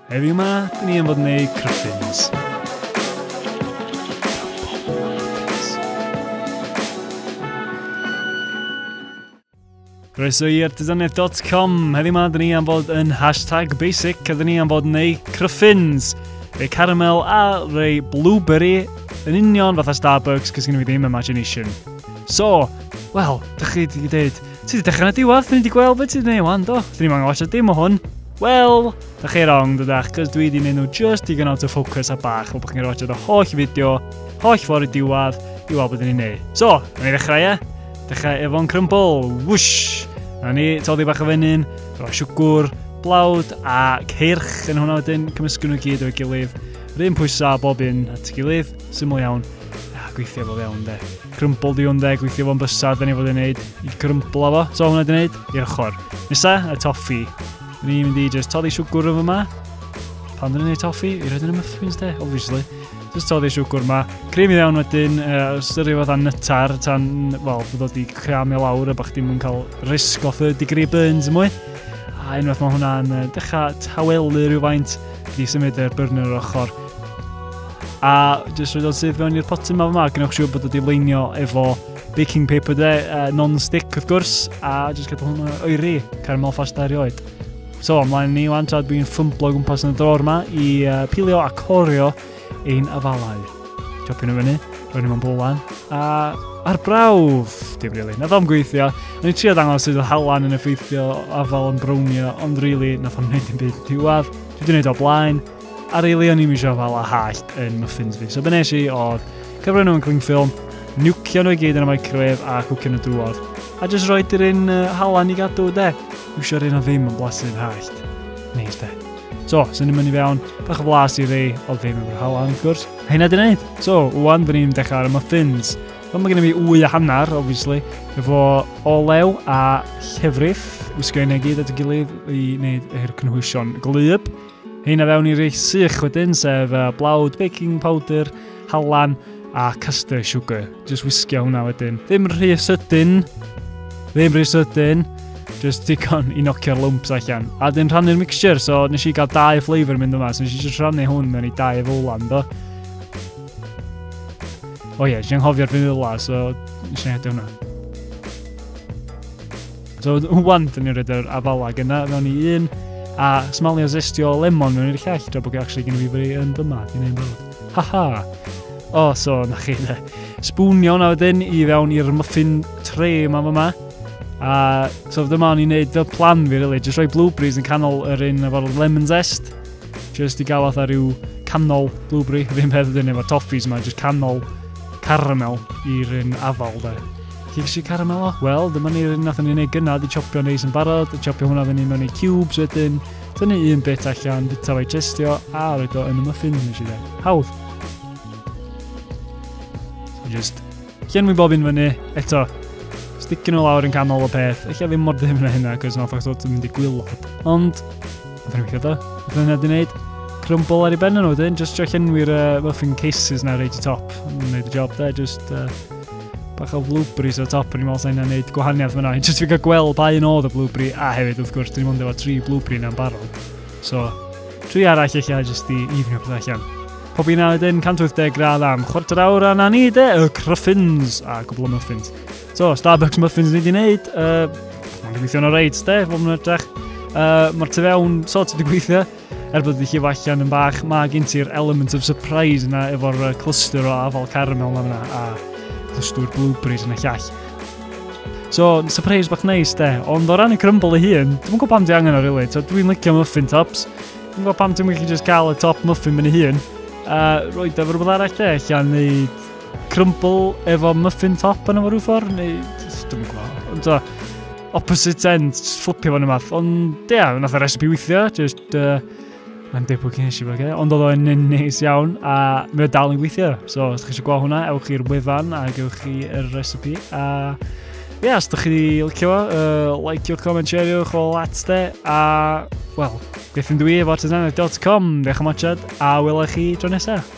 Heddiw ma, dyn ni am fod yn neud cryffins. Croeso i artisanedd.com. Heddiw ma, dyn ni am fod yn hashtag basic a dyn ni am fod yn neud cryffins. Rei caramel a rei blueberry yn union fatha Starbucks cys gen i fi ddim imagination. So, wel, dych chi wedi dweud, ti wedi dechrau na diwedd, dyn ni wedi gweld beth ti wedi gwneud wan, do? Dyn ni'n angen watch dim o hwn. Wel, da chi wrong, dydach, cos dwi wedi mynd nhw just digon out of focus a bach, o bod chi'n roed y holl fideo, holl ffordd i diwad, i weld beth ni'n neud. So, na ni ddechrau e? Dechrau efo'n crumble, whoosh! Na ni, toddi bach o fenyn, roi siwgwr, blawd a ceirch yn hwnna wedyn, cymysgu nhw gyd o'i gilydd, rhywun pwysau bob un at ei gilydd, syml iawn, a gweithio fo fewn de. Crymbl di hwn de, gweithio fo'n bysa, da ni fod i'n neud i grymblo fo. So hwnna di neud, i'r ochr. Nesa, y toffi. Da ni'n mynd i just toddi siwgwr yn fyma. Pan dyn ni'n neud toffi, i roed yn y muffins de, obviously. Just toddi siwgwr yma. Cream i ddewn wedyn, uh, styri fath a nytar, tan, wel, bod o di creamio lawr a bach dim yn cael risk o third degree burns yn mwy. A unwaith mae hwnna'n uh, dechrau tawelu rhywfaint, di symud yr burner o'r ochr. A jyst rhywbeth sydd fewn i'r potyn ma yma, gwnewch siŵr bod wedi leinio efo baking paper de, uh, non-stick wrth gwrs, a jyst gadw hwn o'i ri, caramel ffast ar oed. So, ymlaen ni wan, tra dwi'n ffymblo gwmpas yn y dror yma i uh, pilio a corio ein afalau. Chopio nhw fyny, roed nhw'n bwlan, a ar brawf, dim rili, really. nath o'n gweithio. O'n i'n trio dangos sydd o halan yn effeithio afal yn brownio, ond rili, really, nath o'n gwneud yn byd diwedd. Dwi wedi gwneud o blaen, A really o'n i'm eisiau fala hallt yn muffins fi. So be nes i oedd cyfrwyn nhw'n cling ffilm, niwcio nhw i gyd yn y microwave a cwcio nhw drwodd. A jyst roi dyr un uh, halan i gadw de. Iwsio'r un o ddim yn blasydd hallt. Neis de. So, sy'n ni'n mynd i fewn, bach o flas i rei o ddim yn halan, wrth gwrs. Hynna di wneud. So, wwan, dyn ni'n dechrau ar y muffins. Wel, mae gen i fi wy a hanner, obviously, efo olew a llefrith, wisgo i gyd at y gilydd i wneud yr cynhwysion glyb. Hyn a fewn i rei sych wedyn, sef uh, blawd, baking powder, halan a castell sugar. Just wisgio hwnna wedyn. Ddim rhy sydyn, ddim rhy sydyn, just digon i nocio'r lumps allan. A dyn rhannu'r mixture, so nes i gael dau flavour mynd yma, so nes i just rhannu hwn mewn i dau fowlan, do. O ie, oh, yeah, nes i'n hofio'r vanilla, so nes i'n hedi hwnna. So, wan, dyn ni'n rhaid yr afala gyna mewn i un, a smalio zestio lemon mewn i'r llall, dra bod gen actually gen i fi fwy yn dyma, dwi'n ei fawr. Ha ha! O, oh, so, na chi dde. Sbwnio na wedyn i fewn i'r muffin tre yma yma. A so dyma o'n i'n neud fel plan fi, really. Just rhoi blueberries yn canol yr un efo'r lemon zest. Just i gael fatha rhyw canol blueberry. Rhywun peth ydyn efo'r toffees yma, just canol caramel i'r un afal, de. Cipsi caramel o? Wel, dyma ni'r un nathon ni wneud gynna, di chopio neis yn barod, y chopio hwnna fyny mewn i cubes wedyn, tynnu un bit allan, bita fo'i testio, a roed o yn y muffin, nes i dde. Hawdd! So just llenwi bob un fyny, eto, sticking o lawr yn canol y peth, eich ddim mor ddim na hynna, cos nath o'ch dod yn mynd i gwylod. Ond, nath ni'n gweithio da, nath ni'n edrych wneud, crumble ar ei ben yn wedyn, just jo llenwi'r uh, muffin cases na reid i top, yn gwneud y job da, just uh, bach o flwbris o top, o'n i'n meddwl sa'n hynna'n neud gwahaniaeth fyna. Just fi'n cael gweld pa un oedd y blwbri, a hefyd wrth gwrs, dwi'n mwyn efo tri blwbri na'n barod. So, tri arall eich allan jyst i ifnio pethau allan. Pob un awr wedyn, 180 gradd am chwarter awr a na ni de, y cryffins a gwbl o muffins. So, Starbucks muffins ni wedi wneud, uh, mae'n gweithio'n o reit de, fod nhw'n edrych. Uh, Mae'r tu fewn sort wedi gweithio. Er bod y llif allan yn bach, mae gen ti'r element of surprise yna efo'r cluster o afal caramel yna fyna a clustwr blueberries yn y llall. So, surprise bach neis de, ond o ran y crumble ei hun, dwi'n gwybod pam di angen o rili, really. dwi'n licio muffin tops, dwi'n gwybod pam ti'n gallu just cael y top muffin mynd ei hun, a roed efo rhywbeth arall de, allan neu Crumble efo muffin top yna fo rhyw ffordd, neu... Dwi'n gwybod. Ond o, opposite end, just fflipio fo'n ymath. Ond, ia, yeah, nath y recipe weithio, just... Uh, Mae'n debyg i nes i fod Ond oedd o'n yn neis iawn a mae o dal yn gweithio. So, os ydych chi eisiau gweld hwnna, ewch i'r wefan a gewch chi yr recipe. A ie, yeah, os ydych chi licio fo, uh, like your comment, share your o at de. A, wel, beth yn dwi efo artisanau.com. Diolch am watchad a welai chi dro nesaf.